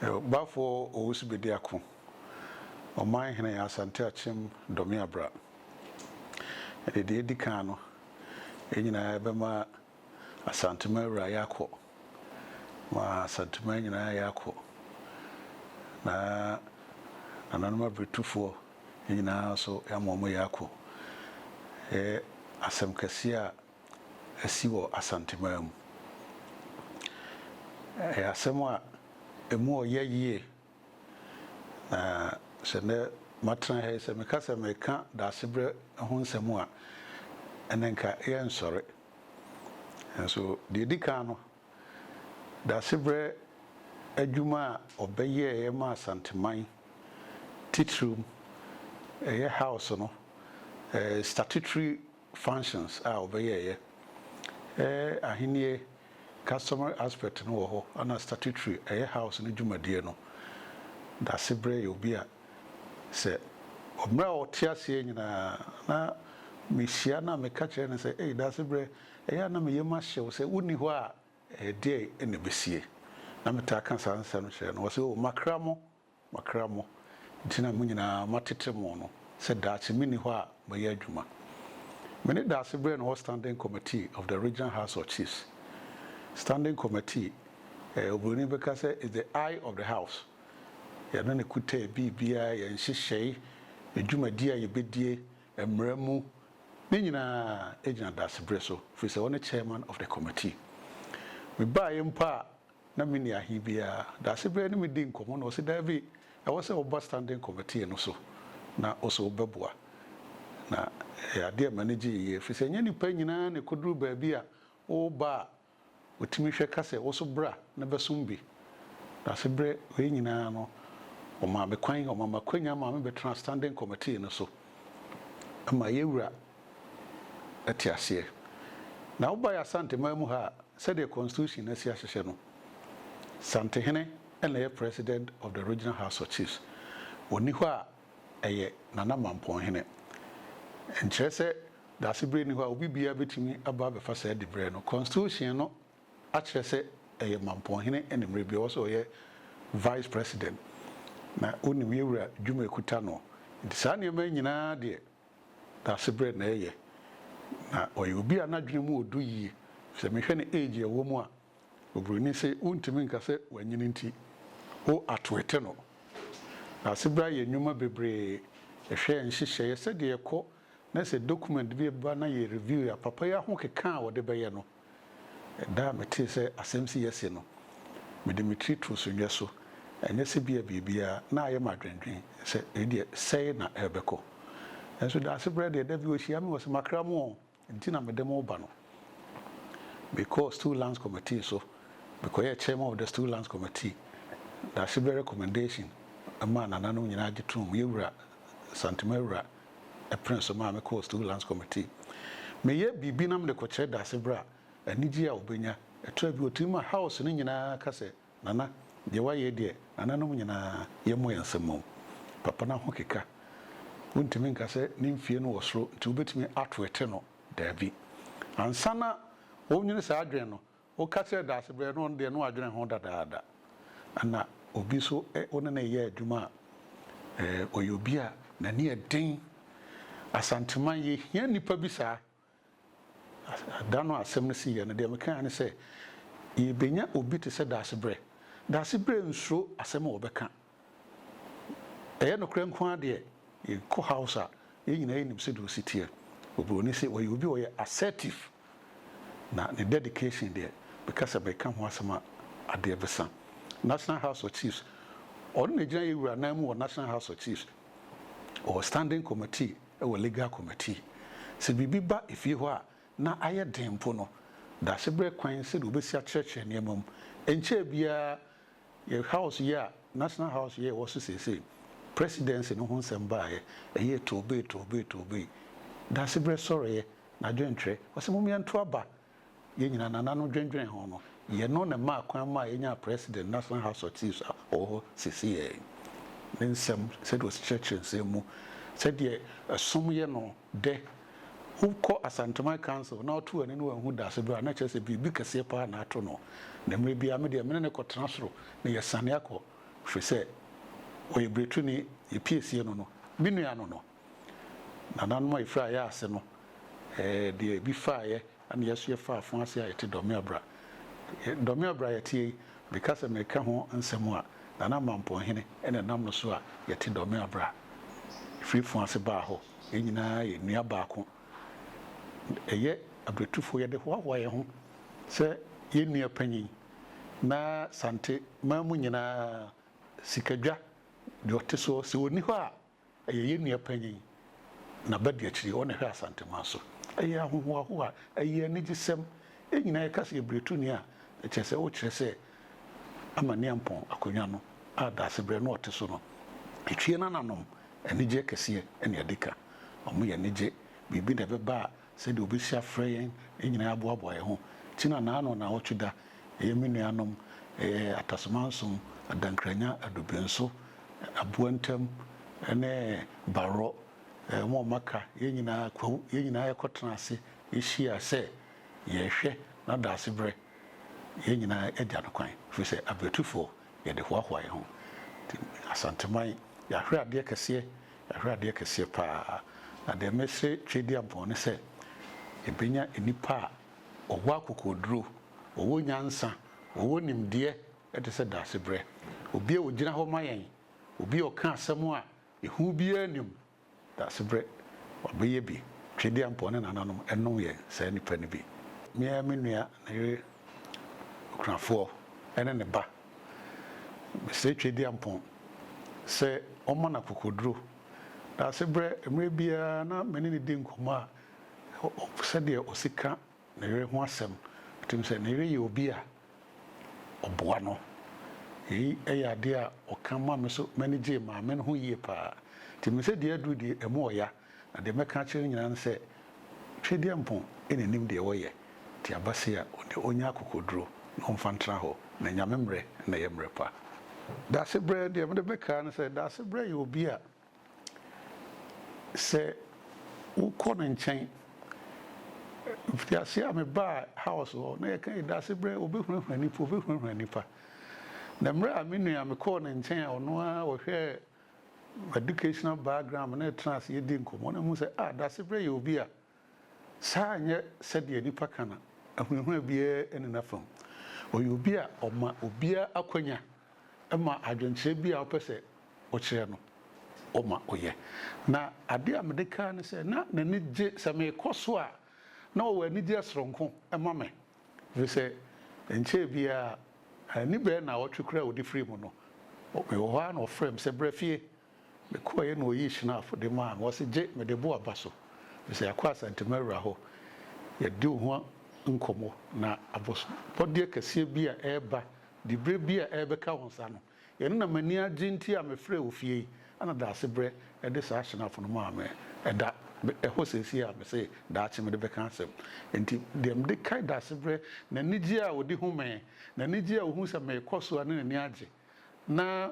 Bafoɔ Owusu Bediako, Ɔman Hene Asante Akyem Dɔme Abra. Ɛde deɛ edi kan no, yɛn nyinaa yɛbɛma Asanteman Wura yɛakɔ, ma Asanteman nyinaa yɛakɔ, na Nananom Abritufoɔ nyinaa nso yɛama wɔn yɛakɔ. Ɛyɛ asɛm kɛseɛ a asi wɔ Asanteman mu. Ɛyɛ asɛm a ɛmu ɔyɛ yie, na sɛ nnɛ matena ha yi, sɛ meka sɛ mereka Daasebrɛ ho nsɛm a, ɛnna nka yɛrensɔre. Nanso deɛ ɛdi kan no, Daasebrɛ adwuma a ɔbɛyɛeɛ maa Asanteman titirim, ɛyɛ House no, statutory functions a ɔbɛyɛeɛ ɛyɛ ahennie customary aspect no wɔ hɔ ɛna statutory ɛyɛ house no dwumadie no dase berɛ yɛ obi a sɛ mmerɛ a ɔte aseɛ nyinaa na me hyia no a meka kyerɛ no sɛ ei dase berɛ ɛyɛ a na me yam ahye wo sɛ wo nni hɔ a ɛdeɛn na ɛbɛsie na me taa ka saa nsɛm kyerɛ no ɔse oh makra mo Makra mo, nti na mo nyinaa matete mo no, sɛ daakye menni hɔ a mɛyɛ adwuma. Me ne daase berɛ no hɔ Standing Committee of the Regional House of Chiefs, Standing Committee, eh, Oburoni bɛka sɛ is the eye of the house, yɛno na ɛkuta yɛ biribiara, yɛn nhyehyɛe, yɛ dwumadie a yɛbɛdie, mmara mu, ne nyinaa ɛgyina daase berɛ so, firi sɛ ɔne Chairman of the Committee. Mebaaeɛ mpo a na menni ahe biara. Dase bɛn ne medii nkɔmmɔ na ɔse daabi, ɛwɔ sɛ woba Standing Committee no so na ɔse wobɛboa. Na ɛyɛ adeɛ a m'ani gyee yie ɛfiri sɛ ɛnyɛ nnipa nyinaa na ɛkɔduru baabi a woba a wɔtumi hwɛ ka sɛ wo so bra na bɛsom bi. Dase berɛ wei nyinaa no wɔmaa me kwan, wɔmaa me akwanya maa mebɛtraa Standing Committee no so ma yɛwura. te aseɛ. Na woba yɛ Asanteman mu ha a, sɛdeɛ constitution no asi ahyehyɛ no, Santehene na ɛyɛ President of the Regional House of Chiefs. Ɔnni hɔ a, ɛyɛ Nana Mampɔnhene. Ɛnkyerɛ sɛ Daasebrɛ nni hɔ a obi biara bɛtumi aba abɛfa saa diberɛ no. Constitution no akyerɛ sɛ ɛyɛ Mampɔnhene ne mmerɛ bi ɔwɔ sɛ ɔyɛ Vice President. Na wonim yɛn Wura dwuma ɛkuta noɔ. Nti saa nneɛma yi nyinaa deɛ, Dasebrɛ na ɛyɛ na ɔyɛ obi a n'adwene mu wɔ du yie. Sɛ mehwɛ ne age a ɛwɔ mu a, obroni se wontumi nka sɛ wanyini nti wo atwete no. Dasebrɛ ayɛ nnwuma bebree, ɛhwɛɛ nhyehyɛeɛ sɛdeɛ ɛkɔ na sɛ document bi ba na yɛ review a, papa yi ahokeka a ɔde bɛyɛ no, Da a metee sɛ asɛm si asi no, mede me tiri too sunnhwɛ so. Ɛnyɛ sɛ ebia biribiara na ayɛ me adwendwen sɛ wei deɛ sɛe na ɛrebɛkɔ. Nanso Daasebrɛ deɛ da bi ɔhyia me wɔ sɛ makra mu o nti na mede mo reba no. Mekɔɔ Stool Lands Committee so, mekɔyɛɛ Chairman of the Stool Lands Committee. Daasebrɛ recommendation maa nananom nyinaa gye toom, yɛn wura, Santima wura, ɛpene so maa mekɔɔ Student Lands Committee. Meyɛ biribi na mede kɔkyerɛ Darcy Bra, anigyeɛ a ɔbɛnya. Ɛtɔa bi ɔtumi ma House no nyinaa ka sɛ, Nana, deɛ woayɛ yi deɛ, nananom nyinaa, yɛmmɔ yɛn nsam mmɔ wo. Papa no ahokeka. Wontumi nka sɛ ne mfeɛ no wɔ soro nti wobɛtumi atweete no. Daabi. Ansa na ɔrenwene saa adwene no, Woka kyerɛ Daasebrɛ no, ɔno deɛ na wadwene ho dadaada. Ɛna obi nso ɛ, wo ne no reyɛ adwuma a, ɛɛ, ɔyɛ obi a n'ani yɛ den. Asanteman, yɛhia nnipa bi saa. As, da no a asɛm no siiɛ no, deɛ mekaeɛ ara ne sɛ, Yɛrebɛnya obi te sɛ Daasebrɛ. Daasebrɛ nsuro asɛm a ɔbɛka. Ɛyɛ nokorɛ nko ara deɛ, yɛkɔ house a, yɛn nyinaa yɛnim sɛdeɛ ɔsi teɛ. Oburoni se ɔyɛ obi a ɔyɛ assertive, na ne dedication deɛ, meka sɛ meka ho asɛm a, adeɛ bɛsa. National House of Chiefs, ɔno na ɛgyina yɛn wura nan mu wɔ National House of Chiefs. Ɔwɔ standing committee, ɛwɔ legal committee. Sɛ biribi ba efie hɔ a, na ayɛ den mpo no, Daasebrɛ kwan sɛdeɛ ɔbɛsi akyerɛkyerɛ nneɛma mu. Ɛnkyɛɛ biara, Yɛ house yi a National House yi a ɛwɔ so seesei, Presidency no ho nsɛm baeɛ, ɛyɛɛ toobee toobee toobee. Daasebrɛ sɔreeɛ, n'adwentwerɛ, ɔse mom yɛnto aba. Yɛn nyinaa Nana no dwendwene ho no, yɛ no na ɛmaa kwan maa yɛnyaa President National House of Chiefs a ɔwɔ hɔ seesei. Ne nsɛm, sɛdeɛ ɔsi kyerɛkyerɛ nsɛm mu, sɛdeɛ ɛsom yɛ no, dɛ wokɔ Asanteman Council na ɔto w'ani na wanhu dase do a, na kyerɛ sɛ biribi kɛseɛ paa na ato no. Na mmerɛ biara me deɛ me ne no kɔtena soro na yɛsane akɔ firi sɛ ɔyɛ bretuni, yɛpiesie no no, me nua no no. Nananom a yɛfiri Ayase no, ɛɛ deɛ ebi faeɛ Ɛna yɛso yɛfa afã ase a yɛte dɔme abira. Dɔme abira a yɛteɛ yi, meka sɛ mereka ho nsɛm a, Nana Mampɔnhene na ɛnam no so a yɛte dɔme abira. Ɛfiri fã ase baa hɔ, yɛn nyinaa yɛ nua baako. Ɛyɛ abiritufo, yɛde hoahoa yɛn ho sɛ yɛn nua panyin. Na Sante man mu nyinaa, Sikadwa deɛ ɔte soɔ, sɛ ɔnni hɔ a, Ɛyɛ yɛn nua panyin, n'abadiakyiri, ɔna ɛhwɛ Asanteman so. Ɛyɛ ahohoahoa, ɛyɛ anigyesɛm, yɛn nyinaa yɛka sɛ yɛbirituni a, ɛkyerɛ sɛ wokyerɛ sɛ ama Niampɔn akonnwa no a Daasebrɛ na ɔte so no. Etwie n'ananom, anigyeɛ kɛseɛ na ɛde ka. Wɔyɛ anigye, biribi na ɛbɛba a sɛdeɛ ɔbɛsi afrɛ yɛn nyinaa aboaboa yɛn ho nti na naano nnawɔtwe da ɛyɛ me nuanom ɛyɛ Atasemansom, Adankranya, Adubenso, Aboa Ntam ne Barrɔ wɔn a wɔaka yɛn nyinaa kwawu yɛn nyinaa yɛkɔ tena ase hyia sɛ yɛrehwɛ na daase berɛ yɛn nyinaa agya no kwan ɛfiri sɛ abratufoɔ yɛde hoahoa yɛn ho nti Asanteman yɛahwere adeɛ kɛseɛ Ɛhwɛ adeɛ kɛseɛ paa. Na deɛ mese Tweaduampɔn ne sɛ yɛbɛnya nnipa a wɔwɔ akokoɔduro, wɔwɔ nyansa, wɔwɔ nimdeɛ te sɛ Daasebrɛ. Obi a ɔgyina hɔ ma yɛn, obi a ɔka asɛm a ehu biara nnim. Daasebrɛ, wabɛyɛ bi. Tweaduampɔn ne nananom nom yɛn saa nnipa no bi. Me ara me nua, ne yere okunafoɔ ne ne ba. Mesrɛ Tweduampɔn sɛ ɔmma no akokoduro. Daasebrɛ, mmerɛ biara na me ne no di nkɔmmɔ a, ɔpɛ sɛ deɛ ɔsi ka ne yere ho asɛm. Ɔtim sɛ ne yere yɛ obi a ɔboa no. Yei yɛ adeɛ a ɔka ma me nso m'ani gyee maame no ho yie pa ara. Nti mesɛ deɛ aduru deɛ ɛmu ɔya. Na deɛ mɛka akyerɛ no nyinaa ne sɛ, Twedeɛ mpo na ɛnim deɛ wɔyɛ, nti abase a ɔnni ɔnyɛ akokoɔduro na ɔmfa ntena hɔ, na Nyame mmerɛ na ɛyɛ mmerɛ pa. Daasebrɛ, deɛ mede bɛka ara ne sɛ, Daasebrɛ yɛ obi a sɛ wokɔ ne nkyɛn, mfitiaseɛ a mebaa house hɔ na yɛka ei Daasebrɛ ɔbɛhurahura nipa, ɔbɛhurahura nipa, na mmerɛ a me nua mekɔɔ ne nkyɛn a ɔno ara ɔhwɛɛ educational background na yɛtena ase yɛdi nkɔmmɔ na mehu sɛ ah Dasebrɛ yɛ obi a saa ɛnyɛ sɛdeɛ nnipa ka no ahunahuna biara nni n'afa mu. Ɔyɛ obi a ɔma obiara akwanya ma adwenkyerɛ bi a ɔpɛ sɛ ɔkyerɛ no ɔma ɔyɛ. Na adeɛ a mede kaa ne sɛ na n'ani gye sɛ mekɔ so a na ɔwɔ anigyeɛ soronko ma me. Efisɛ ɛnkyɛe biara, anni bɛyɛ nnawɔtwe koraa a ɔde firii mu no, mewɔ hɔ ara na ɔfrɛɛ me sɛ, Bra fie! Mekɔeɛ na ɔyii Schnapp de maa me. Ɔse, Gye, mede bo aba so, efisɛ yɛakɔ Asante Maura hɔ. Yɛadi wo ho nkɔmmɔ, na abɔsobɔdeɛ kɛseɛ bi a ɛreba, diberɛ bi a ɛrebɛka wo nsa no, Ɛno na m'ani agye nti a mefrɛɛ wo fie yi, ɛna daase berɛ de saa hyɛ no afo no maa me. Ɛda hɔ seesei a mese daakye mede bɛka asɛm. Enti deɛ mede kae daase berɛ, n'anigyeɛ a ɔde hu me, n'anigyeɛ a ɔhu sɛ merekɔ so a na n'ani agye, na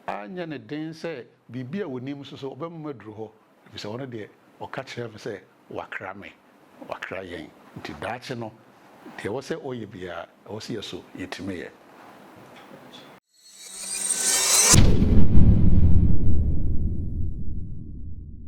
anyɛ no den sɛ biribi a ɔnim nso so ɔbɛma maduru hɔ, ɛfiri sɛ ɔno deɛ ɔka kyerɛɛ me sɛ, Wakra me, Wakra yɛn. Nti daakye no, deɛ ɛwɔ sɛ ɔyɛ biara, ɛwɔ sɛ yɛso yɛtumi yɛ.